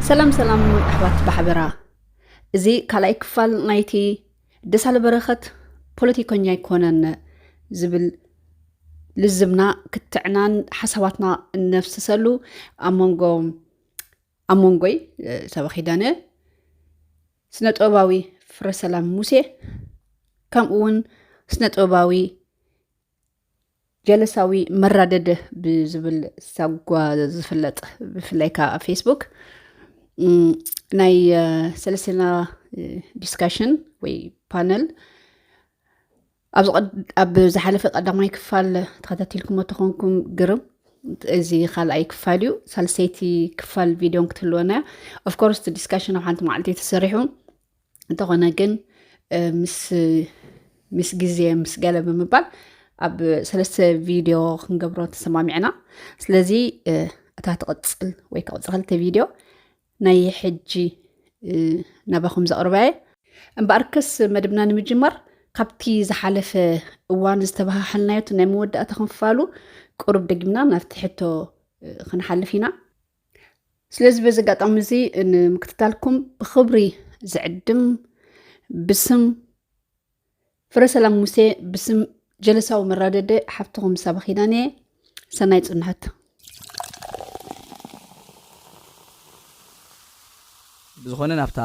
ሰላም ሰላም ኣሕዋት ባሕበራ እዚ ካልኣይ ክፋል ናይቲ ደሳለ በረኸት ፖለቲከኛ ኣይኮነን ዝብል ልዝብና ክትዕናን ሓሳባትና እነፍስሰሉ ኣብ መንጎ ኣብ መንጎይ ሰበ ኪዳነ ስነ ጥበባዊ ፍረሰላም ሙሴ ከምኡ እውን ስነ ጥበባዊ ጀለሳዊ መራደድ ብዝብል ሳጓ ዝፍለጥ ብፍላይ ከዓ ኣብ ፌስቡክ ናይ ሰለስና ዲስካሽን ወይ ፓነል ኣብ ዝሓለፈ ቀዳማይ ክፋል ተኸታቲልኩም ተኾንኩም ግርም እዚ ካልኣይ ክፋል እዩ ሳልሰይቲ ክፋል ቪድዮን ክትህልወና እያ ኦፍኮርስ ዲስካሽን ኣብ ሓንቲ መዓልቲ ተሰሪሑ እንተኾነ ግን ምስ ግዜ ምስ ገለ ብምባል ኣብ ሰለስተ ቪድዮ ክንገብሮ ተሰማሚዕና ስለዚ እታ ትቕፅል ወይ ክቕፅል ክልተ ቪድዮ ናይ ሕጂ ናባኹም ዘቕርበየ እምበኣርከስ መደብና ንምጅማር ካብቲ ዝሓለፈ እዋን ዝተባሃሓልናዮ ናይ መወዳእታ ክንፋሉ ቅሩብ ደጊምና ናብቲ ሕቶ ክንሓልፍ ኢና ስለዚ በዚ ኣጋጣሚ እዚ ንምክትታልኩም ብክብሪ ዝዕድም ብስም ፍረ ሰላም ሙሴ ብስም ጀለሳዊ መራደደ ሓፍትኹም ሳባ ኪዳን እየ ሰናይ ፅንሐት ብዝኾነ ናብታ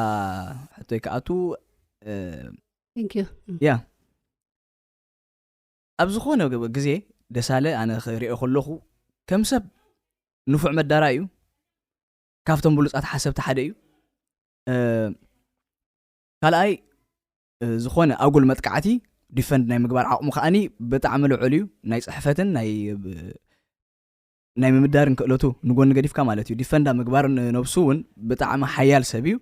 ሕቶይ ክኣቱ ያ ኣብ ዝኾነ ግዜ ደሳለ ኣነ ክሪኦ ከለኹ ከም ሰብ ንፉዕ መዳራይ እዩ ካብቶም ብሉጻት ሓሰብቲ ሓደ እዩ ካልኣይ ዝኾነ ኣጉል መጥቃዕቲ ዲፈንድ ናይ ምግባር ዓቕሙ ከዓኒ ብጣዕሚ ልዑል እዩ ናይ ፅሕፈትን ናይ ናይ ምምዳርን ክእለቱ ንጎኒ ገዲፍካ ማለት እዩ ዲፈንዳ ምግባር ነብሱ እውን ብጣዕሚ ሓያል ሰብ እዩ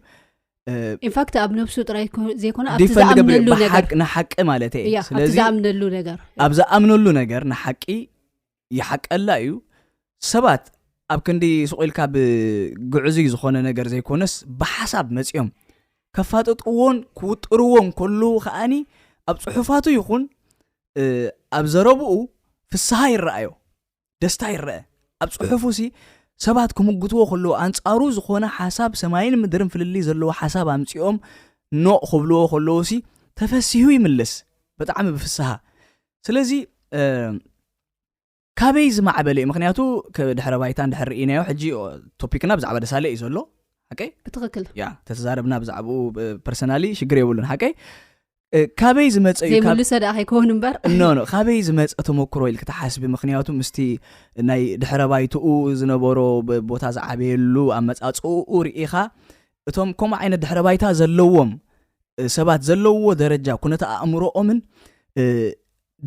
ኢንፋክት ኣብ ነብሱ ጥራይ ዘይኮነ ኣብቲ ዲፈንድ ገብር ዝኣምነሉ ነገር ብሓቅ ንሓቂ ማለት እየ እያ ኣብቲ ስለዚ ዝኣምነሉ ነገር ኣብ ዝኣምነሉ ነገር ንሓቂ ይሓቀላ እዩ ሰባት ኣብ ክንዲ ሱቕ ኢልካ ብግዕዙይ ዝኾነ ነገር ዘይኮነስ ብሓሳብ መፂኦም ከፋጥጥዎን ክውጥርዎን ከለዉ ከዓኒ ኣብ ፅሑፋቱ ይኹን እ፣ ኣብ ዘረብኡ ፍስሃ ይረኣዮ ደስታ ይረአ ኣብ ጽሑፉ ሲ ሰባት ክምጉትዎ ከለዎ ኣንጻሩ ዝኾነ ሓሳብ ሰማይን ምድርን ፍልልይ ዘለዎ ሓሳብ ኣምጺኦም ኖ ክብልዎ ከለዎ ሲ ተፈሲሁ ይምልስ ብጣዕሚ ብፍስሃ ስለዚ ካበይ ዝማዕበለ እዩ ምክንያቱ ድሕረ ባይታን ድሕር ርኢናዮ ሕጂ ቶፒክና ብዛዕባ ደሳለ እዩ ዘሎ ሓቀይ ብትክክል ያ ተተዛረብና ብዛዕባኡ ፐርሰናሊ ሽግር የብሉን ሓቀይ ካበይ ዝመፀ እዩ ዘይምልሰ ደኣ ከይከውን እምበር ኖ ኖ ካበይ ዝመፀ ተመክሮ ኢልክ ትሓስቢ ምክንያቱ ምስቲ ናይ ድሕረ ባይትኡ ዝነበሮ ቦታ ዝዓበየሉ ኣመፃፅኡ ርኢኻ እቶም ከምኡ ዓይነት ድሕረ ባይታ ዘለዎም ሰባት ዘለዎ ደረጃ ኩነተ ኣእምሮኦምን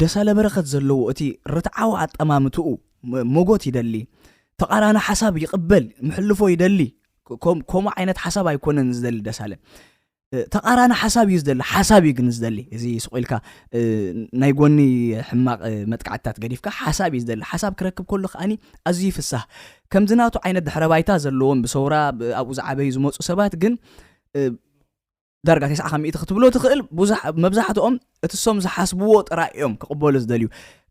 ደሳለ በረኸት ዘለዎ እቲ ርትዓዊ ኣጠማምትኡ ሞጎት ይደሊ ተቃራኒ ሓሳብ ይቕበል ምሕልፎ ይደሊ ከምኡ ዓይነት ሓሳብ ኣይኮነን ዝደሊ ደሳለ ተቃራኒ ሓሳብ እዩ ዝደሊ ሓሳብ እዩ ግን ዝደሊ እዚ ስቁ ኢልካ ናይ ጎኒ ሕማቅ መጥቃዕትታት ገዲፍካ ሓሳብ እዩ ዝደሊ ሓሳብ ክረክብ ከሎ ከዓኒ ኣዝዩ ይፍሳህ ከምዚ ናቱ ዓይነት ድሕረ ባይታ ዘለዎም ብሰውራ ኣብኡ ዝዓበዩ ዝመፁ ሰባት ግን ዳርጋ ተስዓ ካብ ሚእቲ ክትብሎ ትኽእል መብዛሕትኦም እቲ እሶም ዝሓስብዎ ጥራይ እዮም ክቕበሉ ዝደልዩ።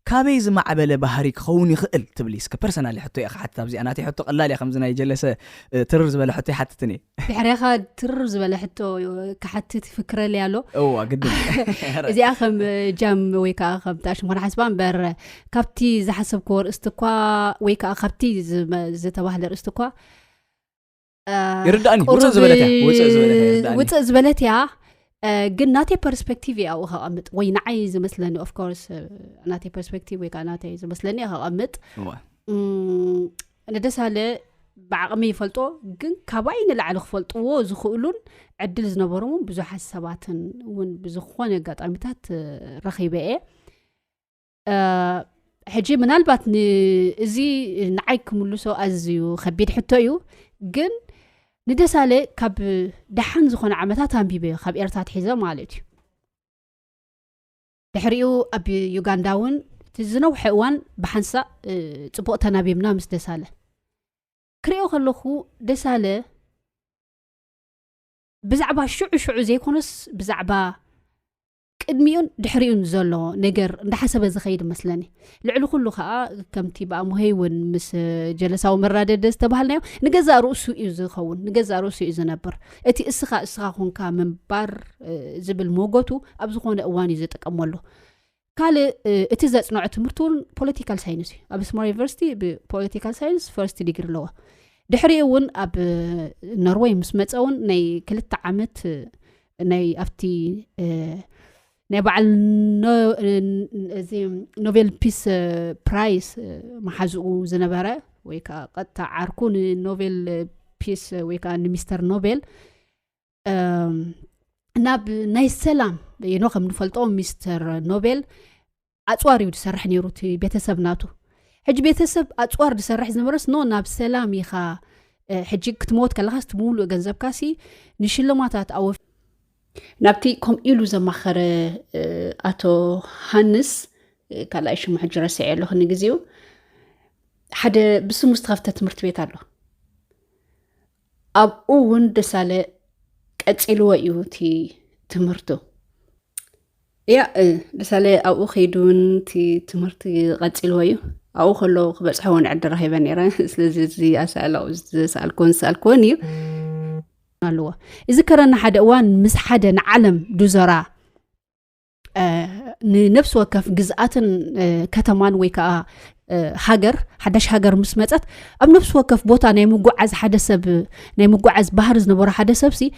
ካበይ ዝማዕበለ ባህሪ ክኸውን ይኽእል ትብሊ? እስከ ፐርሰናሊ ሕቶ እየ ክሓትት ኣብዚኣ ናተይ ሕቶ ቀላል እያ ከምዚ ናይ ጀለሰ ትርር ዝበለ ሕቶ ኣይሓትትን እየ። ድሕሬኻ ትርር ዝበለ ሕቶ ክሓትት ይፍክረለይ ኣሎ። እዋ ግድን እዚኣ ከም ጃም ወይ ከዓ ከም ጣዕሽም ኮነ ሓስባ እምበር ካብቲ ዝሓሰብክዎ ርእስቲ እኳ ወይ ከዓ ካብቲ ዝተባህለ ርእስቲ እኳ ይርዳእኒ ውፅእ ዝበለት እያ ውፅእ ዝበለት እያ ይርዳእኒ ውፅእ ዝበለት እያ እ፣ ግን ናተይ ፐርስፔክቲቭ እያ ኣብኡ ከቐምጥ ወይ ንዓይ ዝመስለኒ ኦፍኮርስ ናተይ ፐርስፔክቲቭ ወይ ከዓ ናተይ ዝመስለኒ እያ ከቐምጥ እወ። እም፣ ንደሳለ ብዓቕሚ ይፈልጦ ግን ካባይ ንላዕሊ ክፈልጥዎ ዝኽእሉን ዕድል ዝነበሮም እውን ብዙሓት ሰባትን እውን ብዝኾነ ኣጋጣሚታት እ፣ ረኺበ እየ ሕጂ ምናልባት ንእዚ ንዓይ ክምልሶ ኣዝዩ ከቢድ ሕቶ እዩ ግን ንደሳለ ካብ ደሓን ዝኮነ ዓመታት ኣንቢበ ዩ ካብ ኤርትራ ትሒዘ ማለት እዩ ድሕሪኡ ኣብ ዩጋንዳ እውን እቲ ዝነውሐ እዋን ብሓንሳ ፅቡቅ ተናቢብና ምስ ደሳለ ክሪኦ ከለኩ ደሳለ ብዛዕባ ሽዑ ሽዑ ዘይኮነስ ብዛዕባ ቅድሚኡን ድሕሪኡን ዘሎ ነገር እንዳሓሰበ ዝኸይድ መስለኒ ልዕሊ ኩሉ ከዓ ከምቲ ብኣሙሄይ እውን ምስ ጀለሳዊ መራደደ ዝተባሃልናዮ ንገዛእ ርእሱ እዩ ዝኸውን ንገዛእ ርእሱ እዩ ዝነብር እቲ እስኻ እስኻ ኮንካ ምንባር ዝብል ሞጎቱ ኣብ ዝኾነ እዋን እዩ ዝጥቀመሉ ካልእ እቲ ዘፅንዖ ትምህርቲ እውን ፖለቲካል ሳይንስ እዩ ኣብ ስማር ዩኒቨርሲቲ ብፖለቲካል ሳይንስ ፈርስት ዲግሪ ኣለዎ ድሕሪኡ እውን ኣብ ኖርወይ ምስ መፀ እውን ናይ ክልተ ዓመት ናይ ኣብቲ ናይ በዓል እዚ ኖቤል ፒስ ፕራይስ መሓዝኡ ዝነበረ ወይ ከዓ ቀጥታ ዓርኩ ንኖቤል ፒስ ወይ ከዓ ንሚስተር ኖቤል ናብ ናይ ሰላም ኖ ከም ንፈልጦ ሚስተር ኖቤል ኣጽዋር እዩ ዝሰርሕ ነይሩ እቲ ቤተሰብ ናቱ ሕጂ ቤተሰብ ኣፅዋር ዝሰርሕ ዝነበረስ ኖ ናብ ሰላም ኢኻ ሕጂ ክትመወት ከለካ ስትምውሉእ ገንዘብካ ሲ ንሽልማታት ኣወ ናብቲ ከምኡ ኢሉ ዘማኸረ ኣቶ ሃንስ ካልኣይ ሽሙ ሕጂ ረስዐ ኣለኹ ንግዜኡ ሓደ ብስሙ ዝተኸፍተ ትምህርቲ ቤት ኣሎ ኣብኡ እውን ደሳለ ቀፂልዎ እዩ እቲ ትምህርቱ እያ ደሳለ ኣብኡ ከይዱ እውን እቲ ትምህርቲ ቀፂልዎ እዩ ኣብኡ ከሎ ክበፅሐ እውን ዕድ ረኪበ ነረ ስለዚ እዚ ኣሳእላ ዝሰኣልክዎን ዝሰኣልክዎን እዩ ኣለዎ እዚ ከረና ሓደ እዋን ምስ ሓደ ንዓለም ዱዘራ ንነፍሲ ወከፍ ግዝኣትን ከተማን ወይ ከዓ ሃገር ሓዳሽ ሃገር ምስ መፀት ኣብ ነፍሲ ወከፍ ቦታ ናይ ምጓዓዝ ሓደ ሰብ ናይ ምጓዓዝ ባህር ዝነበሮ ሓደ ሰብ ሲ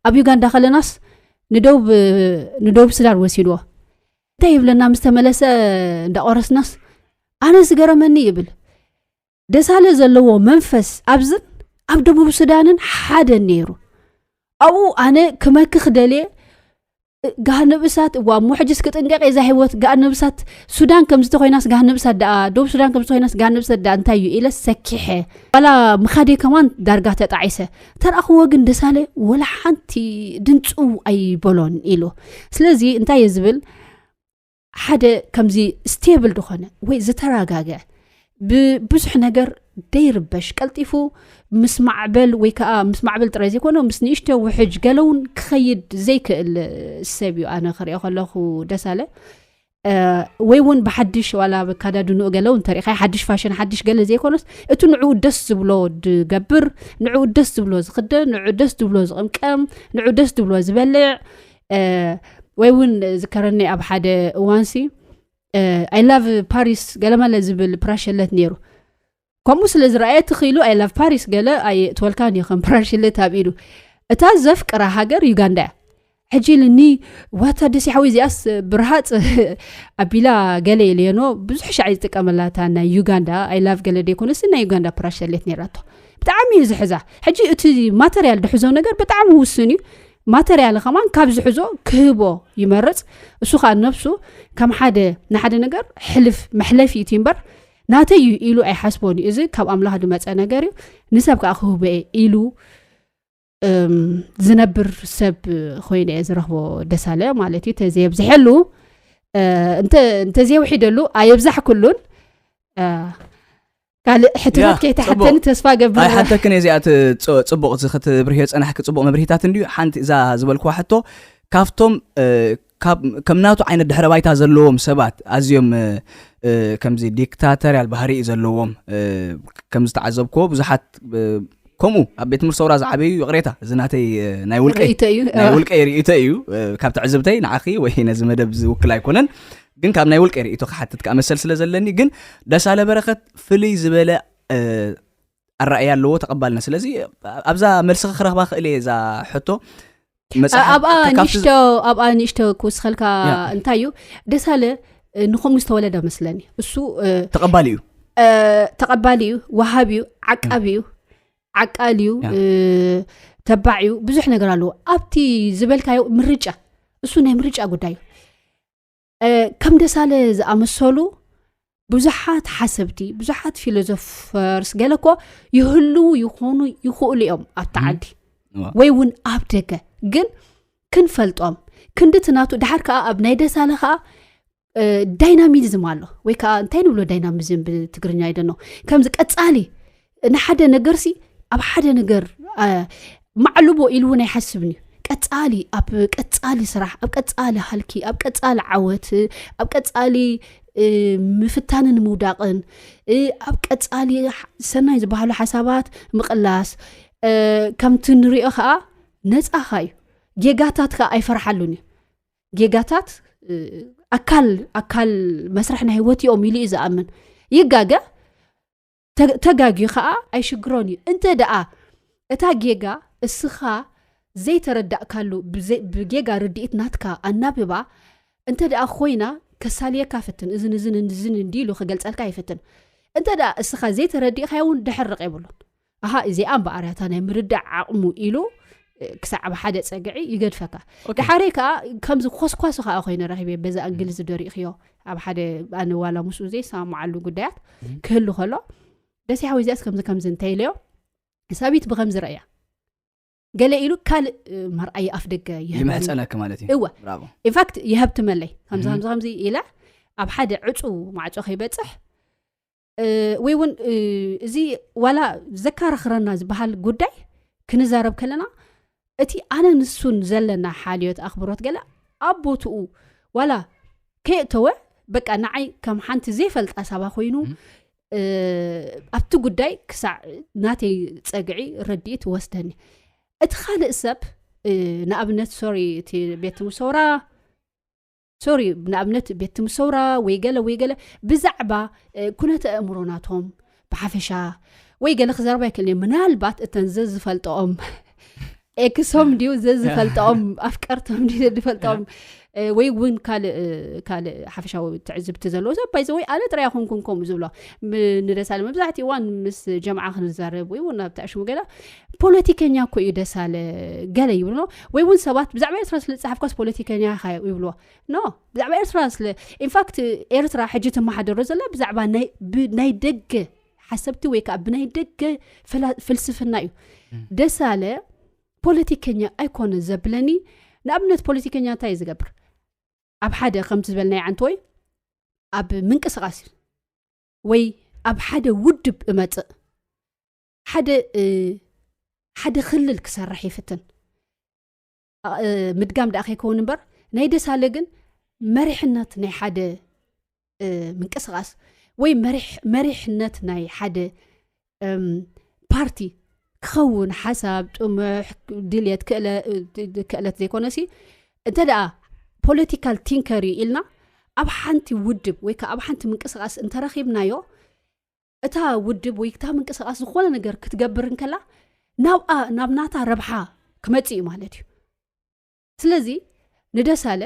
ኣብ ዩጋንዳ ከለናስ ንደቡብ ስዳን ወሲድዎ እንታይ ይብለና ምስ ተመለሰ እንዳቆረስናስ ኣነ ዝገረመኒ ይብል ደሳለ ዘለዎ መንፈስ ኣብዝን ኣብ ደቡብ ሱዳንን ሓደ ነይሩ ኣብኡ ኣነ ክመክኽ ደልየ ጋሃነብ እሳት እዋ እሞ ሕጅስ ክጥንቀቅ የዛ ሂወት ጋሃነብ እሳት ሱዳን ከም ዝተኮይናስ ጋሃነብ እሳት ደኣ ዶብ ሱዳን ከም ዝተኮይናስ ጋሃነብ እሳት ደኣ እንታይ እዩ ኢለ ሰኪሐ ዋላ ምካደ ከማን ዳርጋ ተጣዒሰ ተረኣኽዎ ግን ደሳለ ወላ ሓንቲ ድንፁ ኣይበሎን ኢሉ ስለዚ እንታይ እየ ዝብል ሓደ ከምዚ ስቴብል ዝኾነ ወይ ዝተረጋግዐ ብብዙሕ ነገር ደይርበሽ ቀልጢፉ ምስ ማዕበል ወይ ከዓ ምስ ማዕበል ጥራይ ዘይኮነ ምስ ንእሽተ ውሕጅ ገለውን ክኸይድ ዘይክእል ሰብ እዩ ኣነ ክሪኦ ከለኹ ደሳለ ወይ እውን ብሓድሽ ዋላ ካዳድንኡ ገለው እንተሪእካ ሓድሽ ፋሽን ሓድሽ ገለ ዘይኮነስ እቲ ንዕኡ ደስ ዝብሎ ዝገብር ንዕኡ ደስ ዝብሎ ዝክደን ንዑ ደስ ዝብሎ ዝቕምቀም ንዑ ደስ ዝብሎ ዝበልዕ ወይ እውን ዝከረኒ ኣብ ሓደ እዋንሲ ኣይላቭ ፓሪስ ገለመለ ዝብል ፕራሸለት ነይሩ ከምኡ ስለ ዝረኣየት ክኢሉ ኣይላቭ ፓሪስ ገለ ኣይእትወልካን እዩ ከም ፕራሸለት ኣብ ኢሉ እታ ዘፍቅራ ሃገር ዩጋንዳ እያ ሕጂ ልኒ ዋታ ደሲ ሓወ እዚኣስ ብርሃፅ ኣቢላ ገለ የለየኖ ብዙሕ ሻዕ ዝጥቀመላታ ናይ ዩጋንዳ ኣይላቭ ገለ ደይኮነሲ ናይ ዩጋንዳ ፕራሸሌት ነራቶ ብጣዕሚ እዩ ዝሕዛ ሕጂ እቲ ማተርያል ድሕዞ ነገር ብጣዕሚ ውስን እዩ ማተርያል ከማን ካብ ዝሕዞ ክህቦ ይመርፅ እሱ ከዓ ነብሱ ከም ሓደ ንሓደ ነገር ሕልፍ መሕለፊ እቲ እምበር ናተይ እዩ ኢሉ ኣይሓስቦን እዩ እዚ ካብ ኣምላኽ ዝመፀ ነገር እዩ ንሰብ ከዓ ክህበ እየ ኢሉ ዝነብር ሰብ ኮይኑ እየ ዝረኽቦ ደሳለ ማለት እዩ ተዘየብዝሐሉ እንተዘየውሒደሉ ኣየብዛሕ ኩሉን ካልእ ሕቶታት ከይተሓተኒ ተስፋ ገብር ኣይሓተክን እየ እዚኣ ፅቡቕ ክትብርህዮ ፀናሕኪ ፅቡቕ መብርሂታት እንድዩ ሓንቲ እዛ ዝበልክዋ ሕቶ ካብቶም ከም ናቱ ዓይነት ድሕረ ባይታ ዘለዎም ሰባት ኣዝዮም ከምዚ ዲክታተርያል ባህሪ እዩ ዘለዎም ከም ዝተዓዘብክዎ ብዙሓት ከምኡ ኣብ ቤት ትምህርቲ ሰውራ ዝዓበዩ ይቕሬታ እዚ ናተይ ናይ ውልቀይ ውልቀይ ርእቶ እዩ ካብ ትዕዝብተይ ንዓኺ ወይ ነዚ መደብ ዝውክል ኣይኮነን ግን ካብ ናይ ውልቀ ርእቶ ክሓትት ከዓ መሰል ስለ ዘለኒ ግን ደሳለ በረከት ፍልይ ዝበለ ኣረኣያ ኣለዎ ተቐባልና ስለዚ ኣብዛ መልሲ ክረኽባ ክእል እየ እዛ ሕቶ ኣብኣ ንእሽቶ ኣብኣ ንእሽቶ ክውስኸልካ እንታይ እዩ ደሳለ ንከምኡ ዝተወለደ መስለኒ እሱ ተቐባሊ እዩ ተቐባሊ እዩ ወሃብ እዩ ዓቃቢ እዩ ዓቃል እዩ ተባዕ እዩ ብዙሕ ነገር ኣለዎ ኣብቲ ዝበልካዮ ምርጫ እሱ ናይ ምርጫ ጉዳይ እዩ ከም ደሳለ ዝኣመሰሉ ብዙሓት ሓሰብቲ ብዙሓት ፊሎዞፈርስ ገለ ኮ ይህልው ይኾኑ ይኽእሉ እዮም ኣብ ተዓዲ ወይ እውን ኣብ ደገ ግን ክንፈልጦም ክንዲ ትናቱ ድሓር ከዓ ኣብ ናይ ደሳለ ከዓ ዳይናሚዝም ኣሎ ወይ ከዓ እንታይ ንብሎ ዳይናሚዝም ብትግርኛ ይደኖ ከምዚ ቀፃሊ ንሓደ ነገርሲ ኣብ ሓደ ነገር ማዕልቦ ኢሉ እውን ኣይሓስብን እዩ ቀፃሊ ኣብ ቀፃሊ ስራሕ ኣብ ቀፃሊ ሃልኪ ኣብ ቀፃሊ ዓወት ኣብ ቀፃሊ ምፍታንን ምውዳቕን ኣብ ቀፃሊ ሰናይ ዝበሃሉ ሓሳባት ምቕላስ ከምቲ ንሪኦ ከዓ ነፃኻ እዩ ጌጋታት ከዓ ኣይፈርሓሉን እዩ ጌጋታት ኣካል ኣካል መስርሕ ናይ ህወት እዮም ኢሉ እዩ ዝኣምን ይጋገ ተጋግዩ ከዓ ኣይሽግሮን እዩ እንተ ደኣ እታ ጌጋ እስኻ ዘይተረዳእካሉ ብጌጋ ርድኢት ናትካ ኣናብባ እንተ ደኣ ኮይና ከሳልየካ ፍትን እዝን እዝን እዝን እንዲ ኢሉ ክገልፀልካ ይፍትን እንተ ደኣ እስኻ ዘይተረዲእካዮ እውን ድሕርቕ የብሉን ኣሃ እዚኣ እምበኣርያታ ናይ ምርዳእ ዓቕሙ ኢሉ ክሳዕ ኣብ ሓደ ፀግዒ ይገድፈካ ድሓረይ ከዓ ከምዚ ኮስኳሲ ከዓ ኮይነ ረኪብ እየ በዛ እንግሊዝ ዝደሪእክዮ ኣብ ሓደ ኣነ ዋላ ምስኡ ዘይሰማማዓሉ ጉዳያት ክህሉ ከሎ ደስ ሓወይ እዚኣስ ከምዚ ከምዚ እንታይ ኢለዮ ሳቢት ብከምዚ ረእያ ገለ ኢሉ ካልእ መርኣይ ኣፍ ደገ ይህብፀለኪ ማለት እዩ ኢንፋክት ይሀብትመለይ ከምዚ ከምዚ ከምዚ ኢላ ኣብ ሓደ ዕፁ ማዕፆ ከይበፅሕ ወይ እውን እዚ ዋላ ዘካራኽረና ዝበሃል ጉዳይ ክንዛረብ ከለና እቲ ኣነ ንሱን ዘለና ሓልዮት ኣኽብሮት ገለ ኣብ ቦትኡ ዋላ ከየእተወ በቃ ንዓይ ከም ሓንቲ ዘይፈልጣ ሳባ ኮይኑ ኣብቲ ጉዳይ ክሳዕ ናተይ ፀግዒ ረድኢት ወስደኒ እቲ ካልእ ሰብ ንኣብነት ሶሪ እቲ ቤት ውሰውራ ሶሪ ንኣብነት ቤት ትምህርቲ ሰውራ ወይ ገለ ወይ ገለ ብዛዕባ ኩነተ ኣእምሮ ናቶም ብሓፈሻ ወይ ገለ ክዘረባ ይክእል እዮ ምናልባት እተን ዘዝፈልጠኦም ኤክሶም ድዩ ዘዝፈልጠኦም ኣፍቀርቶም ድዩ ዘዝፈልጠኦም ወይ እውን ካልእ ካልእ ሓፈሻዊ ትዕዝብቲ ዘለዎ ሰብ ባይዘ ወይ ኣነ ጥራያ ኮንኩም ከምኡ ዝብሎ ንደሳለ መብዛሕትኡ እዋን ምስ ጀምዓ ክንዛረብ ወይ እውን ናብቲ ኣሽሙ ገላ ፖለቲከኛ እኮ እዩ ደሳለ ገለ ይብሉ ኖ ወይ እውን ሰባት ብዛዕባ ኤርትራ ስለ ዝፅሓፍካስ ፖለቲከኛ ኢኻ ይብልዎ ኖ ብዛዕባ ኤርትራ ስለ ኢንፋክት ኤርትራ ሕጂ ትመሓደሮ ዘላ ብዛዕባ ናይ ደገ ሓሰብቲ ወይ ከዓ ብናይ ደገ ፍልስፍና እዩ ደሳለ ፖለቲከኛ ኣይኮነ ዘብለኒ ንኣብነት ፖለቲከኛ እንታይ እዩ ዝገብር ኣብ ሓደ ከምቲ ዝበልናይ ዓንተ ወይ ኣብ ምንቅስቃስ ወይ ኣብ ሓደ ውድብ እመፅእ ሓደ ሓደ ክልል ክሰርሕ ይፍትን ምድጋም ደኣ ከይከውን እምበር ናይ ደሳለ ግን መሪሕነት ናይ ሓደ ምንቅስቃስ ወይ መሪሕነት ናይ ሓደ ፓርቲ ክኸውን ሓሳብ ጥሙሕ ድልት ክእለት ዘይኮነ ሲ እንተ ደኣ ፖለቲካል ቲንከር እዩ ኢልና ኣብ ሓንቲ ውድብ ወይ ከዓ ኣብ ሓንቲ ምንቅስቃስ እንተረኪብናዮ እታ ውድብ ወይ ክታ ምንቅስቃስ ዝኾነ ነገር ክትገብር እንከላ ናብኣ ናብ ናታ ረብሓ ክመፅ እዩ ማለት እዩ ስለዚ ንደሳለ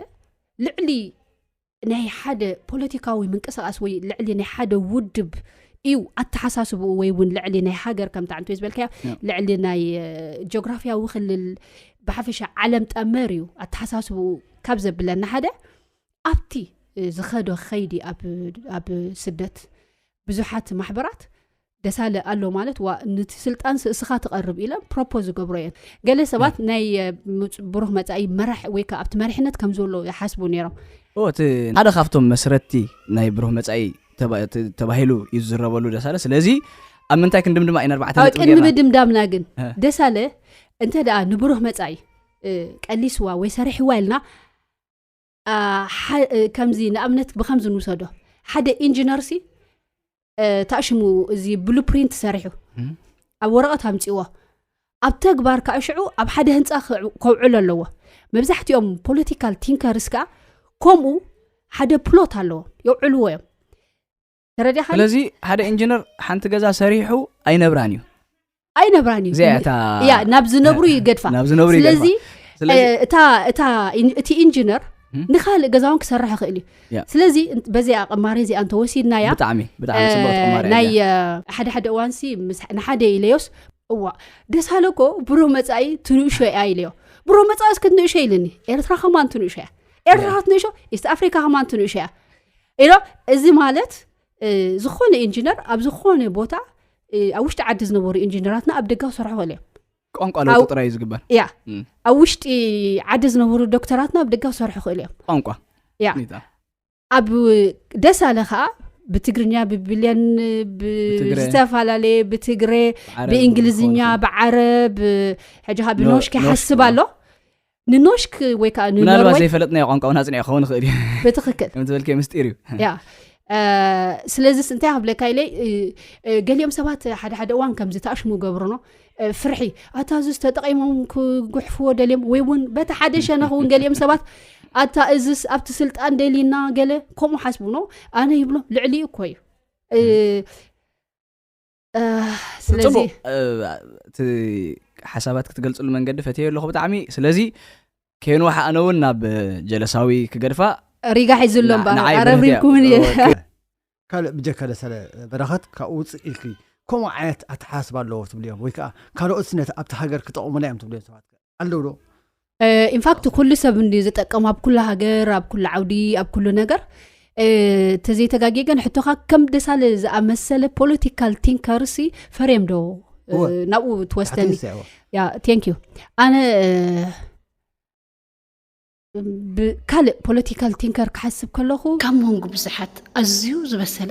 ልዕሊ ናይ ሓደ ፖለቲካዊ ምንቅስቃስ ወይ ልዕሊ ናይ ሓደ ውድብ እዩ ኣተሓሳስብኡ ወይ እውን ልዕሊ ናይ ሃገር ከምታ ዕንት ዝበልካዮ ልዕሊ ናይ ጂኦግራፍያዊ ክልል ብሓፈሻ ዓለም ጠመር እዩ ኣተሓሳስብኡ ካብ ዘብለና ሓደ ኣብቲ ዝኸዶ ኸይዲ ኣብ ስደት ብዙሓት ማሕበራት ደሳለ ኣሎ ማለት ዋ ንቲ ስልጣን ስእስኻ ትቐርብ ኢለ ፕሮፖ ዝገብሮ እየን ገለ ሰባት ናይ ብሩክ መፃኢ መራሕ ወይ ከዓ ኣብቲ መሪሕነት ከም ዘሎ ይሓስቡ ነይሮም እቲ ሓደ ካብቶም መስረቲ ናይ ብሩህ መፃኢ ተባሂሉ እዩ ዝዝረበሉ ደሳለ ስለዚ ኣብ ምንታይ ክንድም ድማ ቅድሚ ምድምዳምና ግን ደሳለ እንተ ደኣ ንብሩህ መፃኢ ቀሊስዋ ወይ ሰሪሕዋ ኢልና ከምዚ ንኣብነት ብከምዚ ንውሰዶ ሓደ ኢንጂነር ሲ ታሽሙ እዚ ብሉፕሪንት ሰሪሑ ኣብ ወረቐት ኣምፅዎ ኣብ ተግባር ከዓ ሽዑ ኣብ ሓደ ህንፃ ከውዕሎ ኣለዎ መብዛሕትኦም ፖለቲካል ቲንከርስ ከዓ ከምኡ ሓደ ፕሎት ኣለዎ የውዕልዎ እዮም ተረዲኻ ስለዚ ሓደ ኢንጂነር ሓንቲ ገዛ ሰሪሑ ኣይነብራን እዩ ኣይነብራን እዩ እዚኣ እታ እያ ናብ ዝነብሩ ይገድፋ ናብ ዝነብሩ ይገድፋ። ስለዚ ስለዚ እ- እታ እታ ኢን- እቲ ኢንጂነር ም? ንካልእ ገዛውን ክሰርሕ ይኽእል እዩ ያ። ስለዚ እንት- በዚኣ ቅማሬ እዚኣ እንተወሲድናያ ብጣዕሚ ብጣዕሚ ፅቡቅ ተቆማሪ እያ ናይ እዚኣ። እ፣ ሓደ ሓደ እዋንሲ ምስ- ንሓደ ኢለዮስ እዋ ደስ ሃለኮ ብሮ መፃኢ ትንእሾ እያ ኢለዮ ብሮ መፃኢስ ክትንእሾ ኢልኒ ኤርትራ ከማን ትንእሾ እያ ኤርትራ ክትንእሾ ኢስት ኣፍሪካ ከማን ትንእሾ እያ ኢሎ እዚ ማለት ዝኾነ ኢንጂነር ኣብ ዝኾነ ቦታ ኣብ ውሽጢ ዓዲ ዝነበሩ ኢንጂነራትና ኣብ ደጋ ክሰርሑ ክእል እዮም ቋንቋ ለውጢ ጥራይ እዩ ዝግበር ያ ኣብ ውሽጢ ዓዲ ዝነበሩ ዶክተራትና ኣብ ደጋ ክሰርሑ ክእል እዮም ቋንቋ ያ ኣብ ደሳለ ከዓ ብትግርኛ ብብልያን ዝተፈላለየ ብትግረ ብእንግሊዝኛ ብዓረብ ሕጂ ካ ብኖሽ ከይሓስብ ኣሎ ንኖሽክ ወይ ከዓ ምናልባት ዘይፈለጥናዮ ቋንቋ እውን ኣፅኒዑ ክኸውን ይኽእል እዩ ብትክክል ከምትበልከ ምስጢር እዩ ያ ስለዚ እንታይ ኣብለካ ኢለ ገሊኦም ሰባት ሓደ ሓደ እዋን ከምዚ ተኣሽሙ ገብርኖ ፍርሒ ኣታ እዚ ዝተጠቂሞም ክጉሕፍዎ ደልዮም ወይ እውን በቲ ሓደ ሸነኽ እውን ገሊኦም ሰባት ኣታ እዚ ኣብቲ ስልጣን ደሊና ገለ ከምኡ ሓስቡኖ ኣነ ይብሎም ልዕሊ እኮ እዩ ስለዚ ጽቡቅ እ፣ እቲ ሓሳባት ክትገልጽሉ መንገዲ ፈትየ ኣለኹ ብጣዕሚ ስለዚ ከይንዋሓ ኣነ እውን ናብ እ፣ ጀለሳዊ ክገድፋ ሪጋ ሒዝሎ ንዓ- እምበር ንዓይ ኣረብሪብኩ በረህት እውን እየ። እየ ኦኬ። ካልእ ብጀካ ደሰለ በረኸት ካብኡ ውፅእ ኢልኪ ከምኡ ዓይነት ኣተሓሳስባ ኣለዎ ትብልዮም ወይ ከዓ ካልኦት ነቲ ኣብቲ ሃገር ክጠቕሙና እዮም ትብልዮም ሰባት ኣለዉ ዶ ኢንፋክት ኩሉ ሰብ እንዲ ዝጠቀሙ ኣብ ኩሉ ሃገር ኣብ ኩሉ ዓውዲ ኣብ ኩሉ ነገር ተዘይተጋጊየ ግን ሕቶካ ከም ደሳለ ዝኣመሰለ ፖለቲካል ቲንከርሲ ፈርም ዶ ናብኡ ትወስደኒ ንክ ኣነ ብካልእ ፖለቲካል ቲንከር ክሓስብ ከለኹ ካብ መንጉ ብዙሓት ኣዝዩ ዝበሰለ